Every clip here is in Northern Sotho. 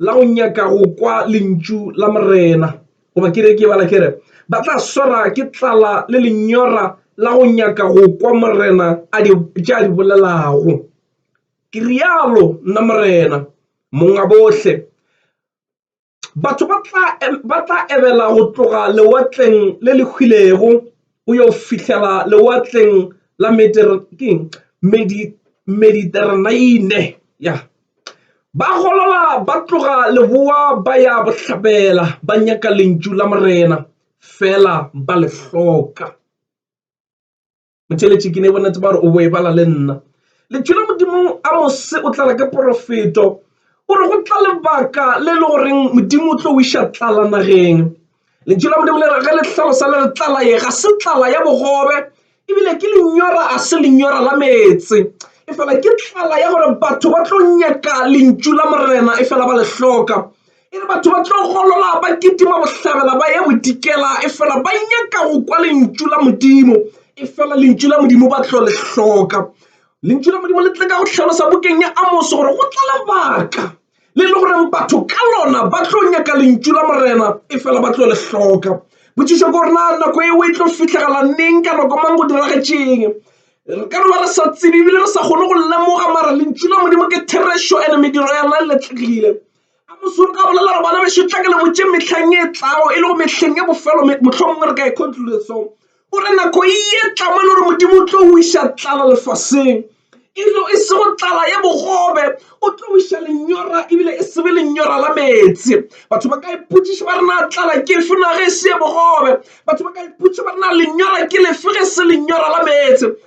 la go nyaka go kwa lentšu la morena goba ke re ke bala ke re ba tla swara ke tlala le lenyora la go nyaka go kwa morena a di tša di bolelago ke rialo nna morena monga bohle batho ba tla ba tla ebela go tloga lewatleng le le hwilego go yo fihlela lewatleng la mediterraneane ya ba golola ba tloga leboa ba ya bohlabela ba nyaka lentšu la morena fela ba le hloka motheletši ke ne bonetse ba gore o boebala le nna lentšu la modimo a mose o tlala ke porofeto o re go tla lebaka le le goreng modimo o tlo o iša tlala nageng lentšu la modimo le re ge le tlhalosa le re tlala ye ga se tlala ya bogobe ebile ke lenyora a se lenyora la meetse e fela ke tlala ya gore batho ba tlo nyaka lentšu la morena e fela ba le hloka E re batho ba tlo golola, ba kitima bohlabela, ba ya bodikela, efela ba nyaka go kwa Lentšu la Modimo, efela Lentšu la Modimo ba tlo le hloka. Lentšu la Modimo le tle ka go hlalosa bukeng ya Amose gore go tla lebaka le le goreng batho ka lona ba tlo nyaka Lentšu la Morena, efela ba tlo le hloka. Potšišo ke gore na nako eo e tlo fihlagala neng, ka nako mang, go diragetšeng? Re ka no ba re sa tsebe ebile re sa kgone go lemoga, mara Lentšu la Modimo ke therešo and mediro ya lona e letlegile. A mosong nka bolelela gore bana bešo tla ke le botše mehleng e tlago e le go mehleng ya bofelo mohlomongwe re ka e conclusion o re nako e etla mo e le gore modimo o tlo o iša tlala lefaseng elo e sego tlala ye bogobe o tlo o iša lenyora ebile e sebe lenyora la meetse batho ba ka ipotšiša ba re na tlala ke efe na ge e se ye bogobe batho ba ka ipotšiša ba re na lenyora ke lefe ge se lenyora la meetse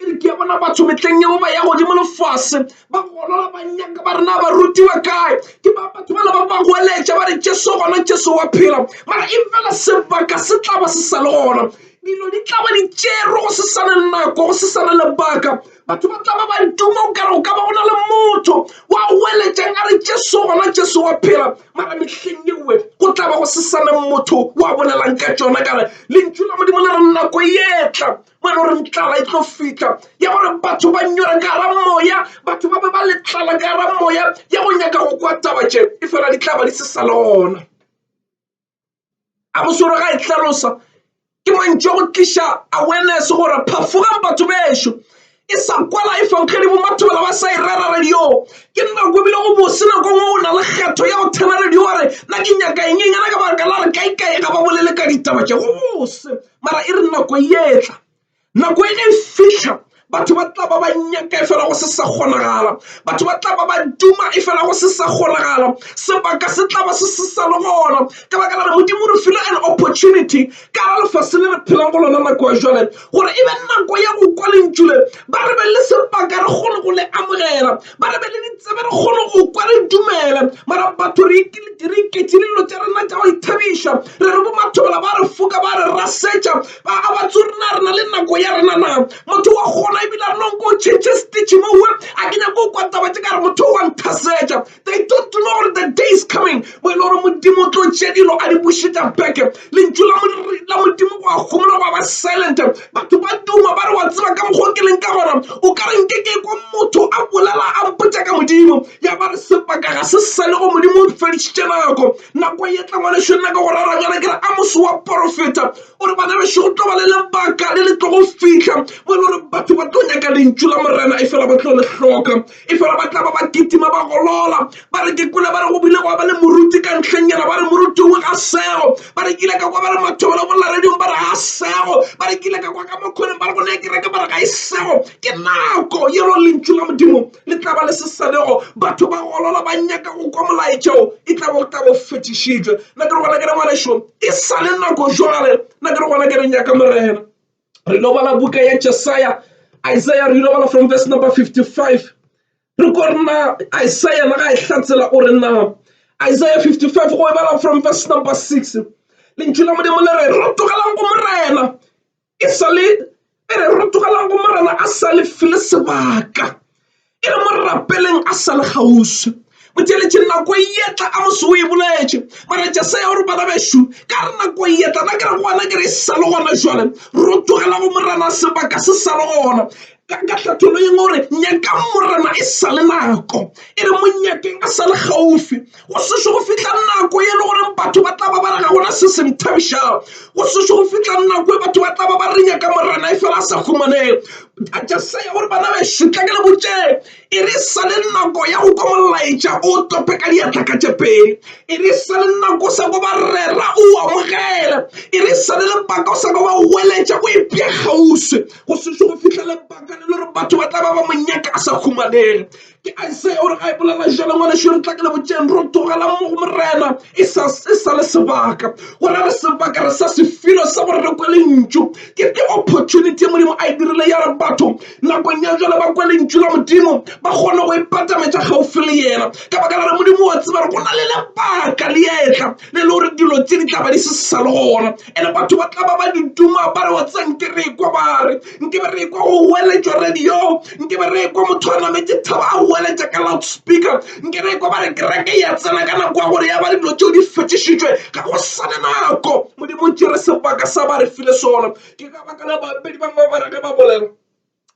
e re ke a bona batho metleng yeo ba ya godimo lefase ba golola ba nyaka ba rena ba rutiwa kae ke ba batho bana ba ba goeletša ba re jesu gona jesu wa phela mara e fela sebaka se tlaba se sa le gona dilo di tlaba di tšerwe go se sane nako go se sane lebaka batho ba tlaba ba duma o kare go ka ba go na le motho wa goeletšang a re jesu gona jesu wa phela mara mehleng yewe go tlaba go se sane motho wa bolelang ka tšona kare lentšu la modimo le re nako e etla mo e le goreng tlala e tlo fitlha ya gore batho ba nyora ka gara moya batho ba be ba le tlala ka gara moya ya go nyaka go kwa taba tše e fela di tla ba di se sa le gona a bosoro ga e tlhalosa ke mantšo go tliša awareness gore phafogang batho bešo e sa kwala e fankgedi bo batho bala ba sa e rera radio ke nna ko ebile go bose nako ngwe o na le kgetho ya go thena radio wa re nna ke nyaka eng eng ana ka baka la re kaekae ga ba bolele ka ditaba tše go bose mara e re nako etla nako e ge e fihla batho ba tla ba ba nyaka e fela go se sa kgonagala batho ba tla ba ba duma e fela go se sa kgonagala sebaka se tla ba se se sa le gona ka baka la re modimo re file an opportunity ka ra lefase le re phelang go lona nako ya jale gore e be nako ya go kwa lentšule ba re be le sebaka re kgone go le amogela Ba re be le ditsebe re kgone go kwa re dumele mara batho re iketše dilo tša rena tša go ithabiša re re bomathobela ba re foka ba re rasetša ba a ba tso rena re na le nako ya rena na motho wa kgona ebile a renong ko tšhentšhe stitch mowe a ke nyako o kwa taba tše ka re motho wa nthasetša they don't know gore the day is coming mo e le gore modimo o tlo tše dilo a di bušetša beke lentšu la modimo go a gomola go a ba silent Batho ba duma ba re, Wa tseba ka mokgwa o ke leng ka gona? O ka re nke ke kwa motho a bolela a mpotša ka Modimo. Ya ba re, Sebaka ga se sa le go Modimo o fedišitše nako. Nako e tla ngwanešu, nna ka go rara bjana ke re, Amose wa porofeta. O re, Bana bešo, go tlo ba le lebaka le le tlogo fihla mo e le gore batho ba tlo nyaka lentšu la Morena efela ba tlo le hloka. Efela ba tla ba ba kitima ba golola, ba re ke kwele ba re go bile gwa ba le moruti ka ntlheng yela, ba re moruti o ga sego, ba re ke ile ka kwa ba re mathobela go lla radiong ba re ga sego, ba re ke ile ka kwa ka mo khoneng ba re go ne kereke ba re ga e sego. Ke nako ye lo Lentšu la Modimo le tla ba le se sa lego, batho ba golola ba nyaka go kwa molaetša wo, e tla bo go tla bo fetišitšwe. Nna ke re gona ke re ngwanešu e sa le nako jwale, nna ke re gona ke re nyaka Morena. Re lo bala buka ya Jesaya, Isaiah, re lo bala from verse number 55. Re ko re na Isaiah na ga e hlatsela o re na Isaiah 55 go e bala from verse number 6. Lentšu la Modimo le re re tlogelang go Morena e sale e re re tlogelang go Morena a sa le file sebaka. E re mo rapeleng a sa le kgauswi. Mo theeletše nako e yetla a mose o e boletše. Mara tša se ya gore bana bešu ka re nako e yetla na ke re gona ke re e sa le gona jwale ro togela go morana sebaka se sa le gona ka ka hlathollong gore nyakang morana e sa le nako e re mo nyakeng a sa le gaufi go sešo go fihla nako e le goreng batho ba tla ba ba re ga gona se se nthabišang go sešo go fihla nako e batho ba tla ba ba re nyaka morena e fela a sa humaneng jesaya gore bana bešo tla ke le botšeng e re sa le nako ya go kwa molaetša o tope ka diatla ka tše pedi e re sa le nako sa go ba rera o amogele e re sa le lebaka o sa go ba weletša o epša kgauswi go sešo go fihla lebaka le le gore batho ba tla ba ba monyaka a sa humaneng ke a se o re ga e bolela jalo ngwaneso re tla ka le botšeng ro togela mo go morena e sa se sa le sebaka go ra re sebaka re sa sefelo sa gore re kwele ntšu ke the opportunity e modimo a e dirile ya re batho nakong ya jalo ba kwele ntšu la modimo ba kgone go ipatametša gaufi le yena ka baka la re modimo wa tseba re go na le lebaka le etla le le gore dilo tse di tla ba di se sa le gona and batho ba tla ba ba di duma ba re wa tsa nke re ekwa ba re nke be re ekwa go weletšwa radio nke be re ekwa motho a nametse thaba a weletša ka loudspeaker nke re ekwa ba re kereke ya tsena ka nako ya gore ya ba dilo tšeo di fetšišitšwe ga go sane nako modimo tšere sebaka sa ba re file sona ke ka baka la bapedi bangwe ba re ge ba bolela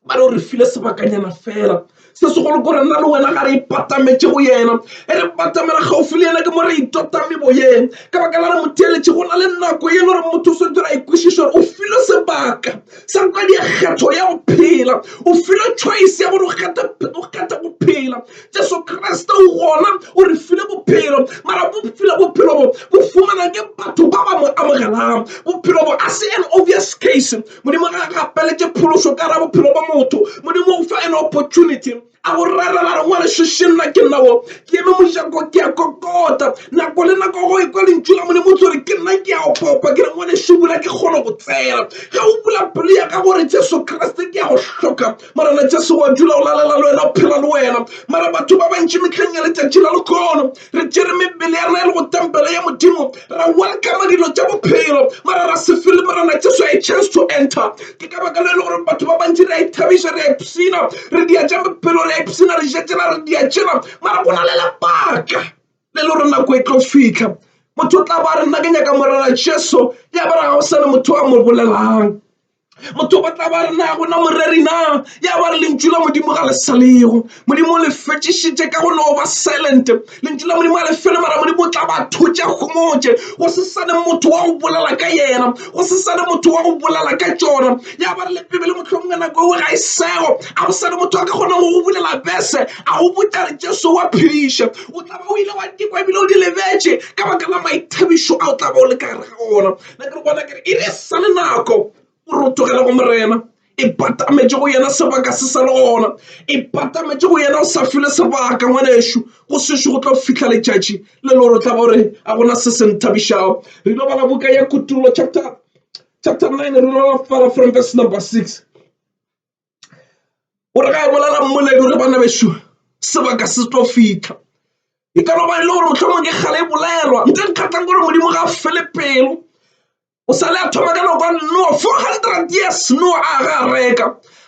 ba re o re file sebakanyana fela se segolo kore nna le wena ga re ipatametše go yena e re batamela gaufi le yena ke mo re itotame boyeng ka baka la re motheeletše go na le nako e le gore motho o swetse ra ikwešiša gore o file sebaka sa kwa dikgetho ya go phela o file choice ya gore o kgetha go phela jesu kriste o gona o re file bophelo mara bo file bophelo bo bo fumana ke batho ba ba mo amogelang bophelo bo a se an obvious case Modimo ga a gapeletše phološo ka ra bophelo ba motho. Modimo o fa an opportunity a go rera la rengwa le šešeng nna ke nna wo ke eme mojako ke a kokota nako le nako go ekwa lentšu la Modimo o tsore ke nna ke a opopa ke rengwa le šubula ke kgone go tsena ga o bula pelo ya ka gore Jesu Kriste ke a go hloka Morena Jesu wa dula o lalela le wena o phela le wena mara batho ba bantši metlheng ya letšatši la lekono re tšere mebele ya rena e le go tempele ya modimo ra welcome dilo tša bophelo mara ra se fele morena jesu a chance to enter ke ka baka le e le gore batho ba bantši re a ithabiša re a ipshina re dia tša bophelo re a ipshina re jetšena re dia tšena mara go na le lebaka le le gore nako e tlo fitlha motho o tla ba re nna ke nyaka morena jesu ya ba re ga go sa le motho a mo bolelang Motho ba tla ba re na gona moreri na ya ba re lentšu la modimo ga le sa lego modimo o le fetšišitše ka go no ba silent lentšu la modimo ga le fele mara modimo o tla ba thotša gomotše go se sane motho wa go bolela ka yena go se sane motho wa go bolela ka tšona ya ba re le pebele mohlomong ka nako eo ga e sego a go sane motho a ka kgonang go go bulela bese a go botša re jesu wa phediša o tla ba o ile wa dikwa ebile o di lebetše ka baka la maithabišo a o tla ba o le ka gare ga ona Nna ke re bona ke re e re sa le nako o re o tlogela go morena e patametše go yena sebaka se sa le gona e patametše go yena o sa file sebaka ngwanešu go sešo go tlo fihla letšatši le le gore o tla gore a gona se se nthabišago re lo bala buka ya kutullo chapter chapter 9 re lo bala from verse number 6 o re ga e bolela mmoledi o re bana bešo sebaka se tlo fitlha e ka ba e le gore motlhomong ke kgale e bolelwa nka nkgatlhang gore modimo ga a fele pelo o sa le a thoma ka nako noa four hundred years noa a ga a reka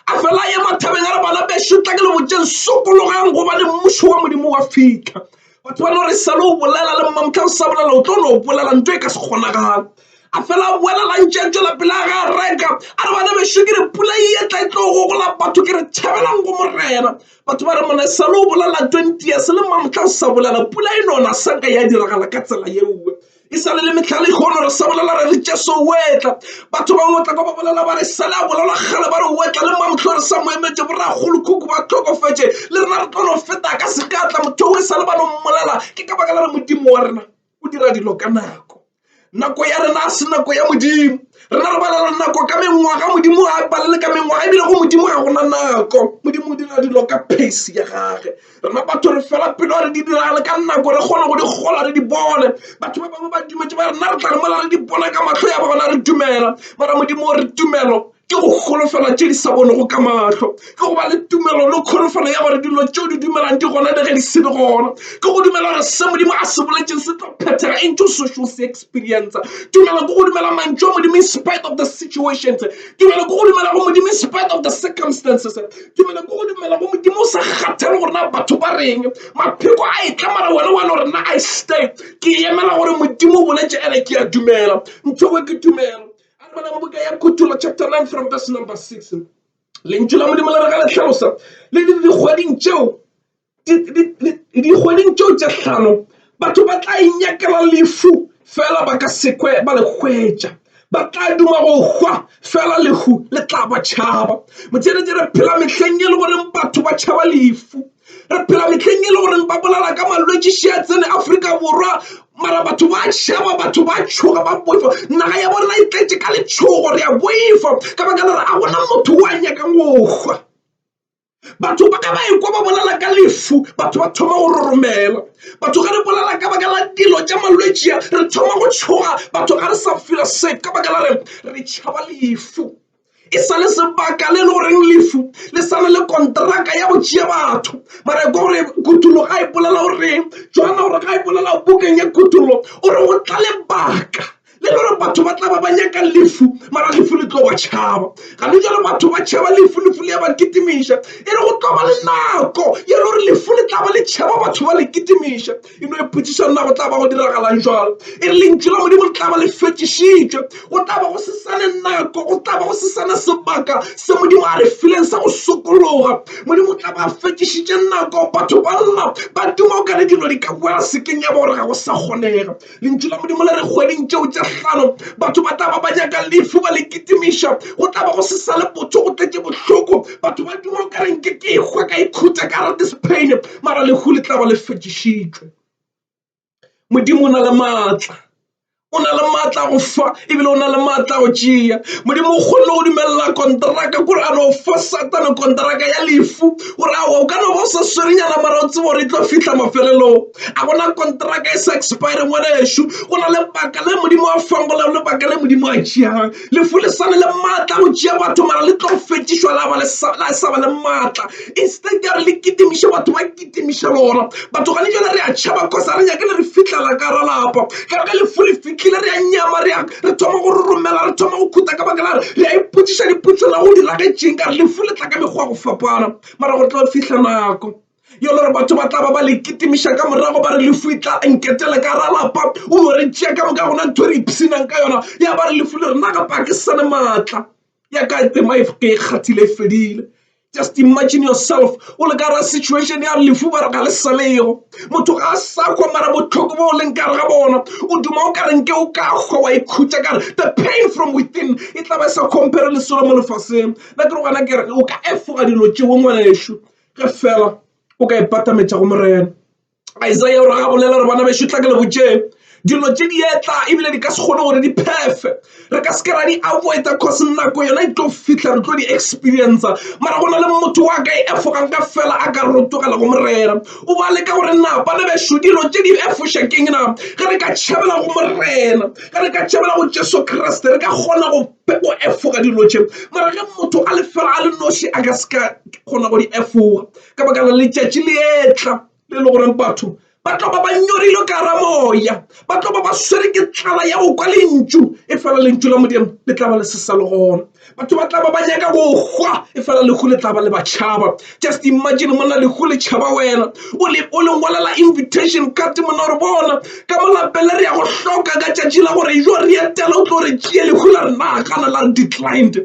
a fela ye mathabeng a re bana bešo tla ke le botseng sokologang gobane mmušo wa modimo wa fitlha Batho ba no re sa lo bolela le mma mohla o sa bolela o tlo no bolela ntho e ka se kgonagala a fela a boela la ntše a tšwela pele a ga reka a re bana bešo ke re pula e etla e tlo gogola batho ke re tšhabelang go morena batho ba re mona e sa lo bolela twenty years le mma mohla o sa bolela pula e nona sa ka ya diragala ka tsela yeoe E sa le le mehla ya lehono re sa bolela re re Jesu o etla. Batho bangwe o tla ka ba bolela ba re sale a bolela kgale ba re o etla le mamohlo re sa mo emetše boragolokhuku ba tlhokofetše le rena re tlo no feta ka se ka tla motho o e sa le ba no mmolela ke ka baka la re modimo wa rena o dira dilo ka nako nako ya rena a se nako ya modimo rena re balela nako ka mengwaga modimo ga e balele ka mengwaga ebile go modimo ga gona nako modimo o dira dilo ka pace ya gage rena batho re fela pelo re di diragale ka nako re kgone go di gola re di bone batho ba bangwe ba dumetse ba rena re tla re mola re di bona ka matlho ya ba gona re dumela mara modimo o re tumelo ke go golofela tše di sa bonego ka matlho ke go ba le tumelo le kholofelo ya gore dilo tšeo di dumelang di gona le ge di se le gona ke go dumela gore se modimo a se boletseng se tlo phethega e ntse social se experience tumelo ke go dumela mantšu a modimo in spite of the situations tumelo ke go dumela go modimo in spite of the circumstances Ke mela ko go dumela mo modimo o sa kgathale gore na batho ba reng mapheko a e tla mara wena wane gore na i stay ke emela gore modimo o boletse ene ke a dumela nthogo ke tumelo a re bana ba boka ya kutula chapter 9 from verse number 6 lentšu la modimo le re ga le tlhalosa le le dikgweding tšeo dikgweding tšeo tše hlano batho ba tla inyakela lefu fela ba ka sekwe ba le hwetša ba tla duma go hwa fela lehu le tla ba tšhaba motšheletše re phela mehleng e le goreng batho ba tšhaba lefu re phela mehleng e le goreng ba bolelwa ka malwetse še a tsene Afrika Borwa mara batho ba šeba batho ba tšhoga ba boifa naga ya bona e tletše ka letšhogo re a boifa ka baka la gore a gona motho o a nyakang go hwa. batho ba ka ba ekwa ba bolela ka lefu batho ba thoma go roromela batho ga re bolela ka baka la dilo tša malwetšia re thoma go tšhoga batho ga re sa fela se ka baka la re re tšhaba lefu e sa le sebaka le e le goreng lefu le sa na le kontraka ya go tšea batho mara ko gore kutollo ga e bolela goreng jona gore ga e bolela bukeng ya kutollo o re go tla lebaka Le le gore batho ba tla ba ba nyaka lefu, mara lefu le tlo ba tšhaba. Ga le jalo batho ba tšhaba lefu, lefu le ya ba kitimiša. E re go tlo ba le nako ye le gore lefu le tla ba le tšhaba batho ba le kitimiša. E no ipotšiša na go tla ba go diragalang jwalo e re Lentšu la Modimo le tla ba le fetšišitšwe. Go tla ba go se sa ne nako, go tla ba go se sa ne sebaka se Modimo a re fileng sa go sokologa. Modimo o tla ba a fetšišitše nako, batho ba lla ba duma okare dilo di ka boela sekeng ya ba gore ga go sa kgonega. lentšu la modimo le re kgweding tšeo tše hlano batho ba tla ba ba nyaka lefu ba le kitimiša go tla ba go se sa le botho go tletše bohloko batho ba duma o ka reng ke ke hwa ka ikhutsa ka rate spain mara lehu le tla ba le fetšišitšwe modimo o na le maatla o na le maatla go fa ebile o na le maatla go tšea modimo o kgonne go dumelela kontraka kore a no fa satane kontraka ya lefu gore awa o ka no ba o sa swerenyana mara o tsebo gore e tlo fitlha mafelelong A go na le konteraka e sa expire ngwanešu go na le baka le modimo a fangolago le baka le modimo a tšeagang lefu le sane le maatla go tšea batho mara le tlo fetišwa la ba le sa ba le maatla instead ya re le kitimiše batho ba kitimiša lona batho gane jale re a tšhaba cause a re nyake le re fitlhela ka ra lapa ka re ge lefu le fitlhile re a nyama re re thoma go romela re thoma go khuta ka baka la re re a ipotšiša dipotšo la go diragetšeng ka re lefu le tla ka mekgwa go fapana mara go tlo fihla nako Yo lore batho ba tlaba ba le kitimiša ka morago ba re lefu e tla nketela ka ra lapa o no re tšea ka moka gona ntho e re ipsinang ka yona ya ba re lefu le rena ga pa ke sane maatla ya ka ema e ke e kgathile e fedile just imagine yourself o le ka ra situation ya lefu ba re ga le salego motho ga a sa kgwa mara botlhoko bo o leng kare ga bona o duma o ka renke o ka kgwa wa ikhutša kare the pain from within e tla ba e sa compare le selo mo lefaseng na ke re gona kere o ka efoga dilo tšeo ngwaneso ge fela o ka ipatametša go morena isaia o re ga bolela re bana bešo tla ke le botšeng dilo tše di etla ebile di ka se kgone gore di phefe re ka se ke ra di avoida cause nako yona e tlo fitlha re tlo di experience mara go na le motho wa ka e efogang ka fela a ka rotogela go morena o ba leka gore na bana bešo dilo tše di efoša keng na ge re ka tšhabela go morena ge re ka tšhabela go jesu kriste re ka kgona go efoga dilo tše mara ge motho a le fela a le noši a ka se ka ke kgona go di efoga ka baka la letšatši le etla le le goreng batho ba tlo ba ba nyorile ka ra moya ba tlo ba ba swere ke tlala ya go kwa lentšu e fela lentšu la modimo le tla ba le se sa le gona batho ba tla ba ba nyaka go hwa e fela lehu le tla ba le ba tšhaba just imagine monna lehu le tšhaba wena o le o lengwalela invitation card monna re bona ka molapele re ya go hloka ka tšatši la gore jo re etela o tlo re tšee lehu la re nagana la re declined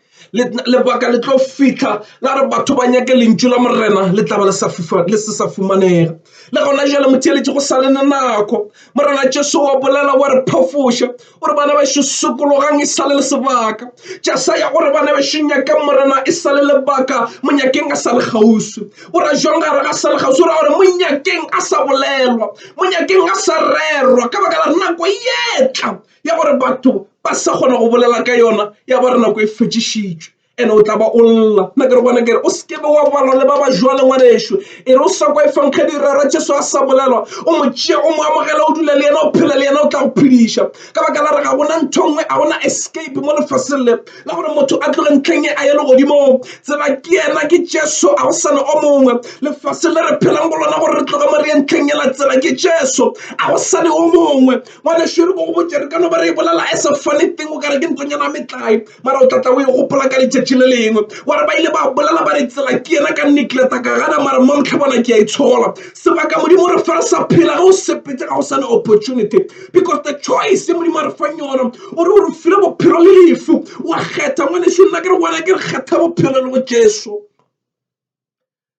lebaka le tlo fitlha la re batho ba nyake lentšu la morena le tla ba le se sa fumanega le gona jale motheeletše go sa le ne nako morena jesu wa bolela wa re phafoša o re bana bešo sokologang e sale le sebaka ja sa ya gore bana bešo nyakang morena e sale lebaka monyakeng a sa le kgauswi o ra jwang ga re ga sa le kgauswi o ra gore monyakeng a sa bolelwa monyakeng a sa rerwa ka baka la nako e etla ya gore batho ba sa kgona go bolela ka yona ya ba re nako e fetšišitšwe ene o tla ba o lla nna ke re bona kere o seke be wa balwa le ba ba jwale ngwaneso e re o sa kwa e fankgedi rera jesu a sa bolelwa o mo tšea o mo amogela o dula le yena o phela le yena o tla go phediša ka baka la re ga gona ntho nngwe ga gona escape mo lefaseng le la gore motho a tloge ntlheng e a ye legodimong tseba ke yena ke jesu a go sana o mongwe lefaseng le re phelang go lona gore re tloge mo re ye ntlheng ela tsela ke jesu a go sane o mongwe ngwana šere ko go botse re ka no ba re e bolela as a funny thing o kare ke ntonyana metlae mara o tlatla o e gopola ka letšatši le lengwe wa re ba ile ba bolela ba re tsela ke yena ka nicleta ka gana mara mamtlha bona ke a itshola sebaka modimo re fa re sa phela ge o sepetse ga o sa ne opportunity because the choice modimo a re fang yona o re o re file bophelo le lefu wa kgetha ngwaneso nna ke re wena ke re kgetha bophelo le go jesu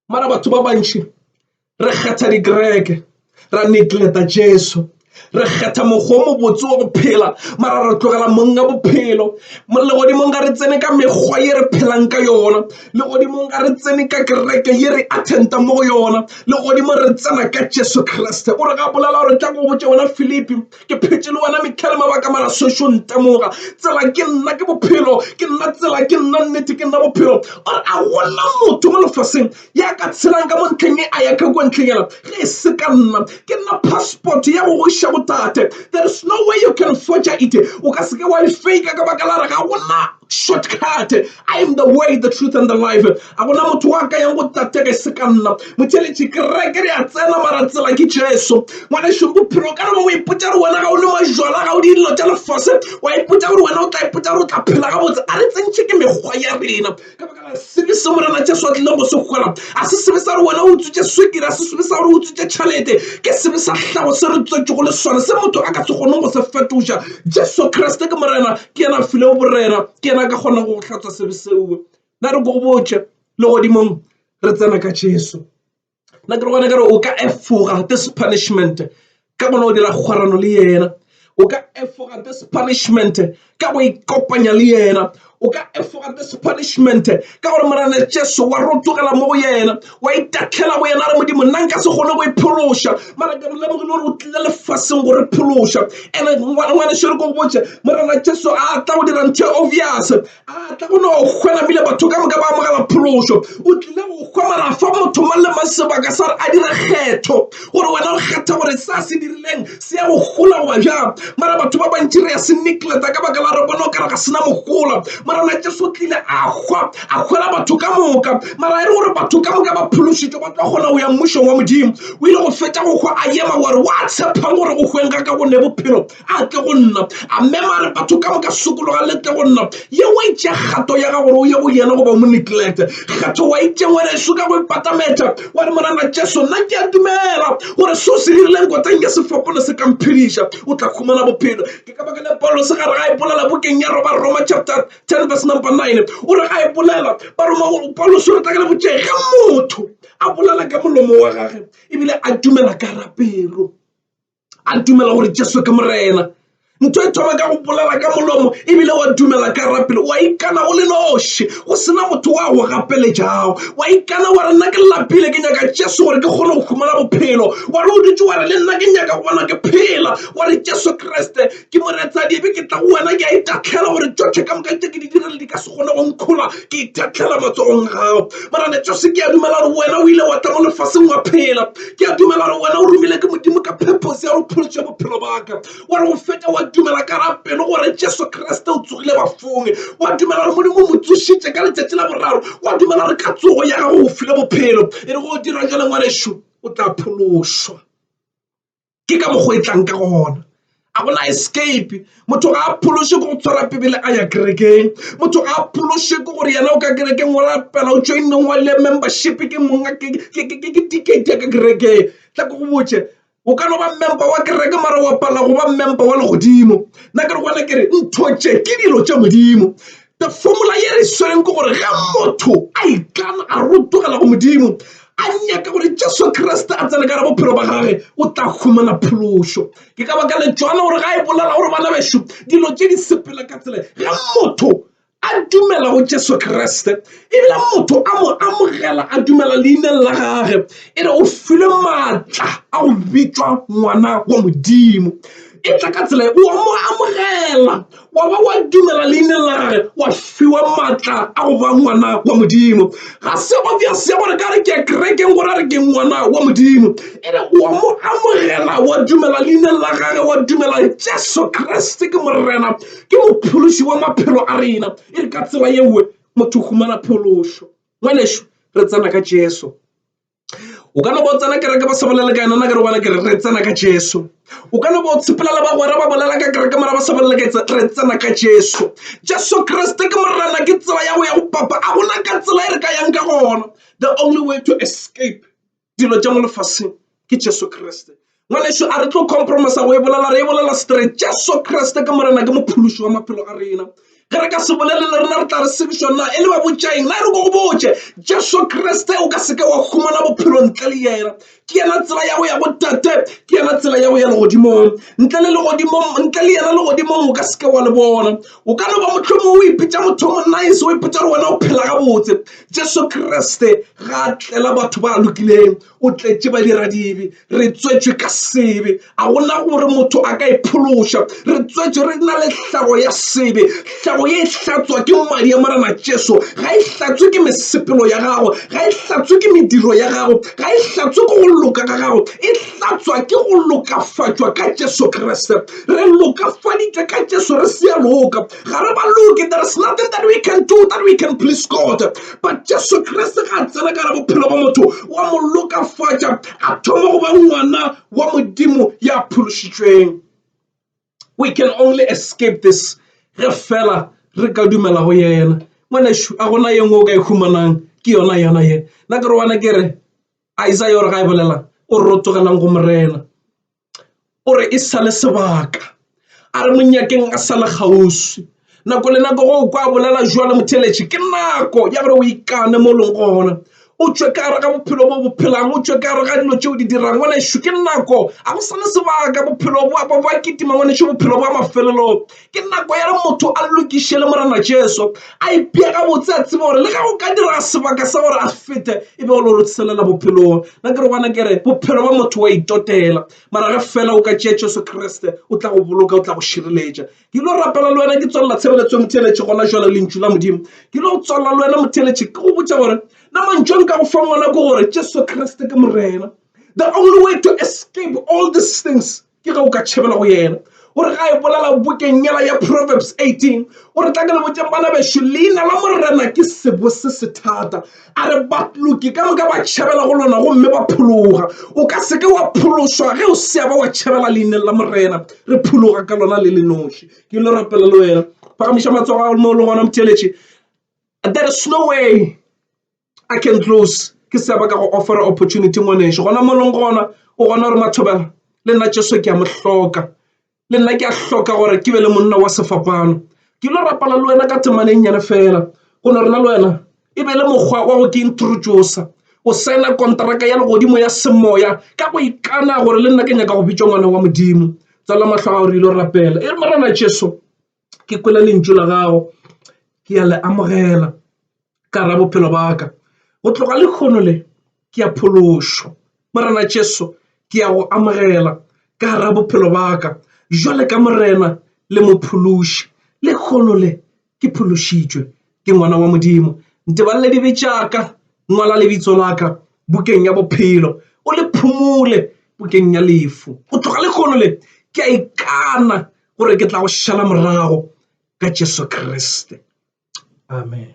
mara batho ba bantši re kgetha dikereke ra negleta jesu re kgetha mokgwa o mobotse wa go phela mara re tlogela monga bophelo legodimong ga re tsene ka mekgwa ye re phelang ka yona legodimong ga re tsene ka kereke ye re attenta mo go yona legodimo re tsena ka jesu kriste o re ga bolela gore tla go botse wena philipi ke phetše le wena mehla le mabaka mara sešo ntemoga tsela ke nna ke bophelo ke nna tsela ke nna nnete ke nna bophelo or a gona motho mo lefaseng ya ka tshelang ka mo ntlheng e a ya ka kwa ntlheng yela ge e se ka nna ke nna passport ya go goiša botate there is no way you can forger it o ka seke wa e fake ka baka la re ga gona shortcut i am the way the truth and the life a gona motho wa ka yang go tatega e se ka nna motheletši kereke re a tsena mara tsela ke jesu ngwaneso bophelo ka remo o ipotsa gore wena ga o le majwala ga o di dilo tša lefase wa ipotsa gore wena o tla ipotsa gore o tla phela gabotse a re tsentšhe ke mekgwa ya rena ka baka la sebe se morena jesu a tlileng go se gola a se sebe sa gore wena o utswitse swekere a se sebe sa gore o utswitse tšhalete ke sebe sa hlago se re tswetšego le sone se motho a ka se kgoneng go se fetoša jesu kriste ke morena ke yena a filego borena ke yena a ka kgona go hlatsa sebe seo na re go botse le godimong re tsena ka jesu nna ke re gona kare o ka efoga this punishment ka gona o dira kgwarano le yena o ka efoga this punishment ka go ikopanya le yena o ka efoga this punishment ka gore morena jesu wa ro tlogela mo go yena wa itatlhela go yena re modimo nna nka se kgone go e phološa mara ke lemogile gore o tlile lefaseng go re phološa ande ngwaneso re ko go botse morena jesu a tla go dira ntho e obvious a tla go no kgwena bile batho ka moka ba amogela phološo o tlile go kgwa mara fa motho mang le mang sebaka sa re a dire kgetho gore wena o kgetha gore sa se dirileng se ya go gola goba bjang mara batho ba bantši re ya se negleta ka baka la re bona o kare ga sena mogola morana jesu tlile a hwa a hwela batho ka moka mara e re gore batho ka moka ba phološitšwe ba tla kgona go ya mmušong wa modimo o ile go fetša go hwa a yema gore wa tshepang gore go hweng ga ka go ne bophelo a tle go nna a mema re batho ka moka sokologa le tle go nna ye o itše kgato ya ga gore o ye go yena goba o mo neglect kgatho wa itše ngwaneso ka go ipatametša wa re morana jesu nna ke a dumela gore se o se dirileng koteng ya sefapole se kamphediša o tla khumana bophelo ke ka baka le paulo se gare ga e bolela bokeng ya roba roma chapter 10 verse number 9 o re ga e bolela baroma paulo se re tla ka le botšee ge motho a bolela ka molomo wa gage ebile a dumela ka rapelo a dumela gore jesu ke morena ntho e thoma ka go bolela ka molomo ebile wa dumela ka rapele wa ikana go le noši go sena motho wa go gapeletšago wa ikana wa re nna ke lapile ke nyaka jesu gore ke kgone go humana bophelo wa re o dutse wa re le nna ke nyaka go bona ke phela wa re jesu kriste ke moratsadi ebe ke tla go wena ke a itahlela gore tšohle ka moka tše ke di direle di ka se kgone go nkgola ke itahlela matsogong gago morane jose ke a dumela gore wena o ile wa tla mo lefaseng wa phela ke a dumela gore wena o romile ke modimo ka purpose ya go phološa bophelo baka wa re go feta wa dumela ka ra pelo gore jesu kriste o tsogile bafong wa dumela gore modimo o mo tsošitše ka letšatši la boraro wa dumela gore ka tsogo ya gago o file bophelo e re go dira jale ngwanešu o tla phološwa ke ka mokgwa e tlang ka gona a gona escape motho ga a phološe ke go tshwara pebele a ya kerekeng motho ga a phološe ke gore yena o ka kerekeng wa rapela o joineng wa le membership ke monga ke ticket ya ka kerekeng tla ko go botše o ka no ba member wa kereke mara wa pala go ba member wa legodimo nna ke re gona ke re ntho tše ke dilo tša modimo The formula ye re swereng ke gore ge motho a ikana a rotogela go modimo a nyaka gore jesu kriste a tsene ka re bophelo ba gage o tla humana phološo ke ka baka letšwana gore ga e bolela gore bana bešo dilo tše di sepela ka tsela ge motho a dumela go jesu kriste ebile motho a mo amogela a dumela leineng la gage e re o filwe maatla a go bitšwa ngwana wa modimo e tla ka tsela o a mo amogela wa ba wa dumela leineng la gage wa fiwa maatla a go ba ngwana wa modimo ga se obvious ya gore ka re ke kerekeng gore a re ke ngwana wa modimo e re wa mo amogela wa dumela leineng la gage wa dumela jesu kreste ke morena ke mophološi wa maphelo a rena e re ka tsela yewe motho o humana phološo ngwaneso re tsena ka jesu o ka no ba o tsena kereke ba sa bolele ka yena nna ke re gona ke re re tsena ka jesu o ka no ba o tshepela le bagwera ba bolela ka kereke mara ba sa bolele ka etsa re tsena ka jesu jesu kriste ke morena ke tsela ya go ya go papa a gona ka tsela e re ka yang ka gona the only way to escape dilo tša mo lefaseng ke jesu kriste Ngwanešu, a re tlo compromisa go e bolela, re e bolela straight. Jesu Kriste ke Morena, ke Mophološi wa maphelo a rena. Ge re ka se bolele le rena, re tla re sebišwa na e le babotšaeng. Na e re ko go botše, Jesu Kriste o ka se ke wa humana bophelo ntle le Yena. Ke Yena tsela ya go ya go Tate, ke Yena tsela ya go ya legodimong. Ntle le legodimong, ntle le Yena legodimong o ka se ke wa le bona. O ka no ba mohlomong o ipitša motho o monice, o ipitša gore wena o phela gabotse. Jesu Kriste ga a tlela batho ba lokileng. O tletše badiradibe. Re tswetšwe ka sebe. A go na gore motho a ka e phološa. Re tswetšwe re na le hlago ya sebe. Hlago ye e hlatswa ke madi a Morena Jesu. Ga e hlatswe ke mesepelo ya gago. Ga e hlatswe ke mediro ya gago. Ga e hlatswe ke go loka ga gago. E hlatswa ke go lokafatšwa ka Jesu Kriste. Re lokafaditšwe ka Jesu re se a loka. ga re ba loke there is nothing that we can do that we can please god but jesu kriste ga a tsena ka re bophelo ba motho wa mo lokafatša a thoma go ba ngwana wa modimo ya phološitšweng we can only escape this ge fela re ka dumela go yena ngwanešu a gona ye nngwe o ka e humanang ke yona yona ye nna ke re wana ke re isaya ore ga e bolela o re go morena O re e sa le sebaka a re monyakeng a sa le kgauswi nako le nako go kwa bolela jwalo motheeletši ke nako ya gore o ikane mo leng gona o tšwe ka gare ga bophelo bo bo phelang o tšwe ka gare ga dilo tše o di dirang ngwanešu ke nako a go sa le sebaka bophelo bo ba kitima ngwanešu bophelo ba mafelelong Ke nako ya gore motho a lokišele Morena Jesu, a ipee gabotse, a tseba gore le ge go ka dira sebaka sa gore a fete e be o lo rotshelela bophelong. Nna ke re gona kere bophelo ba motho wa itotela, mara ge fela o ka tšea Jesu Kriste o tla go boloka, o tla go šireletša. Ke lo rapela le wena, ke tswalela tshebeletso ya motheeletši gona jwale, lentšu la Modimo. Ke lo tswalela le wena motheeletši, ke go botša gore na mantšu a nka go fang ona ke gore Jesu Kriste ke Morena. The only way to escape all these things ke ge o ka tšhabela go yena o re ga e bolela bokeng yela ya proverbs 18 o re tla ke le botšeng bana bešo leina la morena ke sebo se se thata a re batloki ka moka ba tšhabela go lona gomme ba phologa o ka seke wa phološwa ge o sea ba wa tšhabela leineng la morena re phologa ka lona le le noši ke le rapela le wena phagamiša matsogo a mo le gona motšeletše there is no way i can close ke se ba ka go offera opportunity ngwaneso gona mo leng gona o gona gore mathobela le nna jeso ke a mo hloka le nna ke a hloka gore ke be le monna wa sefapano ke lo rapala le wena ka temaneng nyane fela go no rena le wena e be le mokgwa wa go ke introduce o sena kontraka ya legodimo ya semoya ka go ikana gore le nna ke nyaka go bitša ngwana wa modimo tsala mahlo a gore ile rapela e re morena jesu ke kwele lentšu la gago ke a le amogela ka ra bophelo ba ka go tloga lekgono le ke a phološo morena jesu ke a go amogela ka ra bophelo ba ka jwale ka morena le mophološi lekgono le ke phološitšwe ke ngwana wa modimo ntebalele dibe tšaka ngwala lebitso la ka bukeng ya bophelo o le phumole bukeng ya lefu go tloga lekgono le ke a ikana gore ke tla go šala morago ka jesu kriste amen